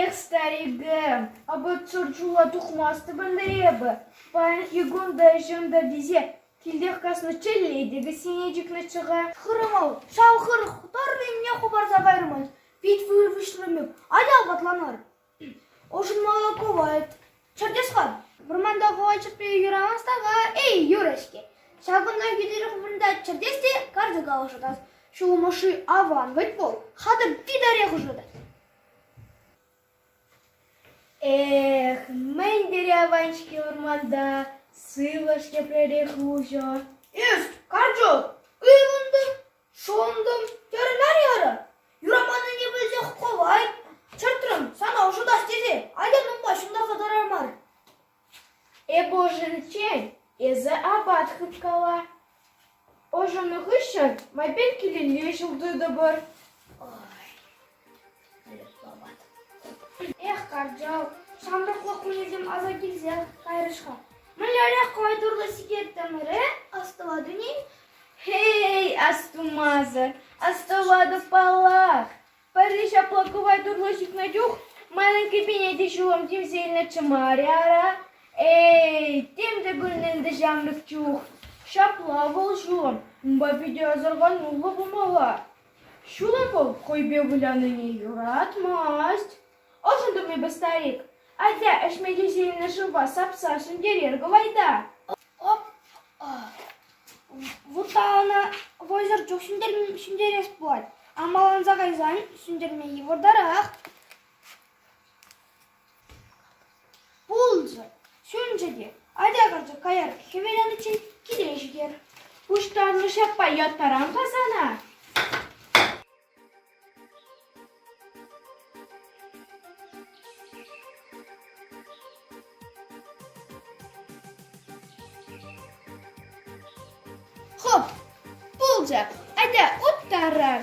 Эх, старикӗм, апат шӑршула тухмастӑп ӗнтӗ эпӗ. Паян Игон та ӗҫем та тесе килтех каснӑччӗлле те кӗсьене чикнӗччӗ-ха. Хырӑмӑл, ҫав хыр тӑрр енне хӑпарса кайрӑмӑр. Пит вырвӑҫлӑ мек, атя апатланар. Ӑшӑнма кӑвайт. Чӗртес-ха. Вӑрманта хӑвачӑкпе юрамас така эй юрӗ-ҫке. Ҫакӑнта витӗр вырӑнта чӗртес те карчӑка ӑшӑтас, ҫулӑм ӑшши аван вӗт вӑл, хатӑр титарех ӑшӑтать. Эх, мӗн тери аван-ҫке вӑрманта, сывлӑш тепререх уҫӑ. Эс, карчӑк, ыйлӑн та. Шунтӑм, терӗ Нарьярӑ. Юраманнине пӗлсех кӑлайт чӑртрӑм, сана ӑшӑтас тесе Ален унпа ҫунтарса тӑрар мар. Эпӗ ӑшӑниччен эсӗ апат хыпкала. Ӑшӑннӑ хыҫҫӑн майпен килелле ҫул тытӑпӑр. Эх, кӑрчал, ҫамрӑклӑх кунӗсем аса килсе кайрӗҫ-ха. Мӗнлерех кӑвайтурлӑ сикеттӗмӗре астӑватӑн-и? Хей, астумасӑр, астӑватӑпаллах. Пӗрре ҫапла кӑвайтурлӑ ҫитнӗ чух манӑн кӗпене те ҫулӑм тивсе илнӗччӗ мар-и ара? Эй, тем те кулнӑ ӗнтӗ ҫамрӑк чух. Ҫапла вӑл ҫулӑм. Унпа питӗ асӑрхануллӑ пулмалла. Ҫулӑху хӑйпе вылянине юратмасть. Ӑшӑн тӑмӗпӗр, старик. Атя, ӗҫме тесе илнӗ шывпа сапса ҫӗнтерер кӑвайта. Вутта ӑна вӑйсӑр чух ҫӗнтерес пулать. Амаланса кайсан ҫӗнтерме йывӑртарах. Пулчӗ, ҫӳлчӗ те, атя карчӑк каяр, хӗвеланиччен киле ҫитер. Пуҫтарнӑ ҫаппа яттарам-ха сана. Хоп, пулчӗ, атя уттарар.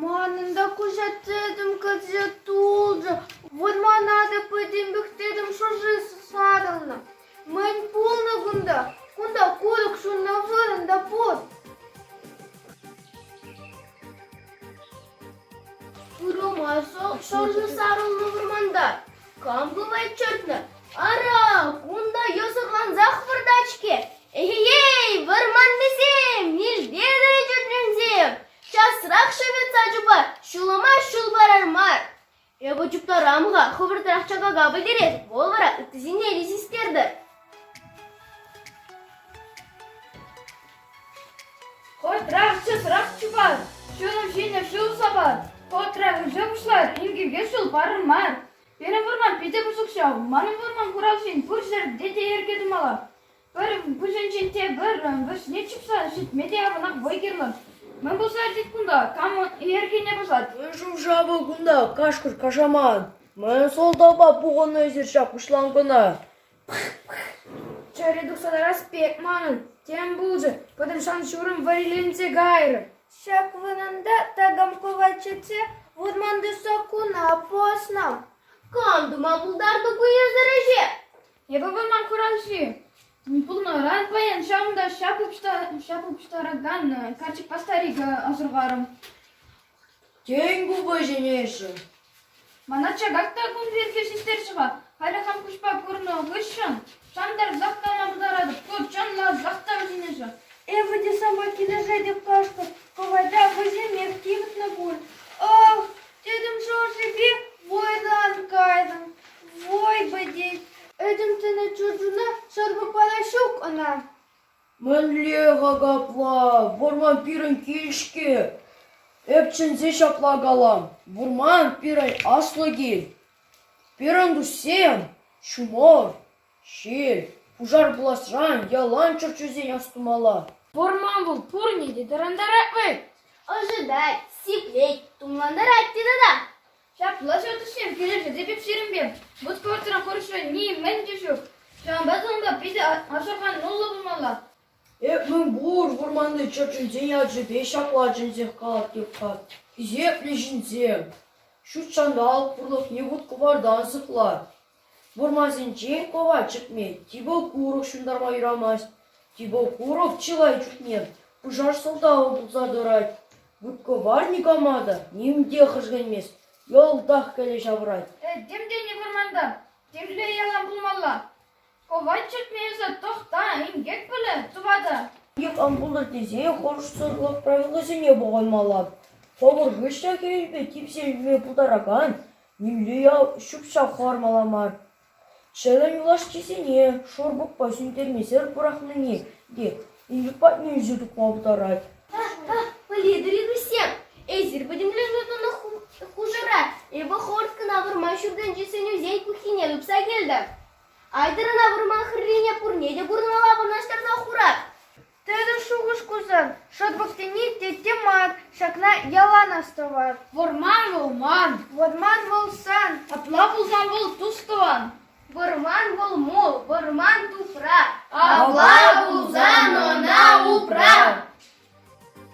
Манӑн та куҫаттетӗм кӗрсе тулчӗ, вӑрмана та пӗтӗм пӗхтертӗм, шӑрши сарӑлнӑ. Мӗн пулнӑ кунта? Кунта курӑк ҫуннӑ вырӑн та пур. Пырӑма шӑрши сарӑлнӑ вӑрманта Кам пымасть чӑтнӑ? Ара, кунта йӑсӑрлансах выртать-ҫке. Эй-ей, вӑрманнисем, милтен ӗлкӗрнӗсем! Часрах шӗветса чупар, ҫулӑма ҫул парар мар. Эпӗ чуптарам-ха, хӑвӑртрах чакака пӗтерет, вӑл вара ытти ҫине те систертӗр. Котрахчӗ трах чупар, ҫурӑм ҫинӗ ҫул сапар. Котрах ӗҫе пуҫлар, ирхине ҫул парӑн мар. Пирӗн вӑрман питӗ пысӑк ҫав. Манӑн вӑрман хуралҫин пур ҫӗрте те йӗрке тумалла. Пӗр куҫӗнчен те пӗр вӗҫне чупса ҫитме те аванах вӑй кирлӗ. Мӗн пулса иртет кунта? Кам йӗркене пӑсать? Мӗн шӑм-шамӗ кунта, кашкӑр-кашаман. Мӗн сӑлтавпа пухӑннӑ эсир ҫак пуҫланкӑна? Чӗре тухса тарас пек манӑн тем пулчӗ, пӑтӑрсан ҫурӑм вӗриленсе кайрӗ. Ҫак вырӑнта такам кӑвачӗчче вырманти саккуна пӑснӑ. Кам тума пултартӑ ку ешӗр ӗҫе? Эпӗ вырман хуралҫи. Пулнӑран паян ҫавӑнта ҫап упҫтаракан карчӑкпа старика асӑрхарӑм. Тен, купӑсҫӑн эсӗ? Мана чакак та кун пирки систерчӗ-ха. Халӗ хам куҫпа курнӑ хыҫҫӑн шантарсах калама пултаратӑп. Ку чӑнласах та сӗнӗшӗ. Эпӗ те сама килӗшетӗп кашкӑр. Кӑвайта хӑйсемех типӗтнӗ пуль. Ах, тӗтӗм шӑршипе вӑйлӑран кайрӑм. Вӑй пӗтет. Этем тӗнӗ чурчуна сарпӑпа та ҫук ӑна. Мӗнле-ха капла, вӑрман пирӗн кил-ҫке? Эп чӗнсе ҫапла калам: вӑрман пирӗн аслӑ кил. Пирӗн туссем ҫумӑр, ҫил, пушар пуласран ялан чӗрчунсен астумалла. Вӑрман вӑл пурне те тӑрантарать вӑй. Ӑшӑтать, сиплет, тумлантарать те тата. Ҫапла ҫав тӗшшем килӗшӗ те пек ҫирӗмпе. Вут-кӑвӑртран курӑҫра нимӗн те ҫук. Ҫавӑнпа та унпа питӗ асӑрхануллӑ пулмалла. Эп мӗн пур вӑрманти чӗрчунсен ячӗпе ҫапла чӗнсех калать Тюкка. Хисеплӗ ҫынсем, ҫут ҫанталӑк пурлӑхне вут-кӑвартан сыхлать. Вырмасенче кӑва чӗкмет, типӗ курӑк ҫунтарма юрамасть. Типӗ курӑк чылай чухне пушар сӑлтавӗ пулса тӑрать. Губкова никама та ним те хӗшкӗнмест, йӑлтах кӗле ҫавӑрать. Э, тем тени вырманта, темле ялан пулмалла. Кӑва чӗкме эсӗ тӑхта, инкек пулӗ, тӑватӑ. Ик ан пултӑр тесе хӑрушсӑрлӑх правилисене пӑхӑнмалла. Хӑвӑр хыҫҫа хирӗҫпе типсе ӳкме пултаракан Нимле ял ҫук ҫав хӑвармалла мар. Чӗлӗм юлашкисене шурпукпа сӳнтермесӗр пӑрахнине те Илюк патне ӳсе тухма пултарать. Пӗлетӗр-и, туссем, эсир пӗтӗмле сутнӑ хушӑра Эвохорскӑна вырма ҫуртӗнчи сӗнӳсен пуххине тупса килтӗм. Айтӑрӑна вырман хӗррине пурне те курӑнмалла вырнаҫтарса хурар. Тенӗ шухӑш курсан шӑтӑк тени тетте мар, ҫакна ялан астӑвар. Вӑрман вӑл ман. Вӑрман вӑл сан. Апла пулсан вӑл тус-тӑван. Вӑрман вӑл мул, вӑрман тупра. Апла пулсан ӑна упра.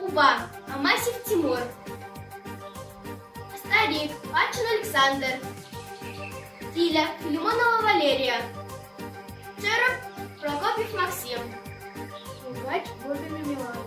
Упа, Амасев Тимур, старик, Пачин Александр, Тиля, Филимонова Валерия, Теров, Прокопьев Максим. Узнать Владимир Миланов.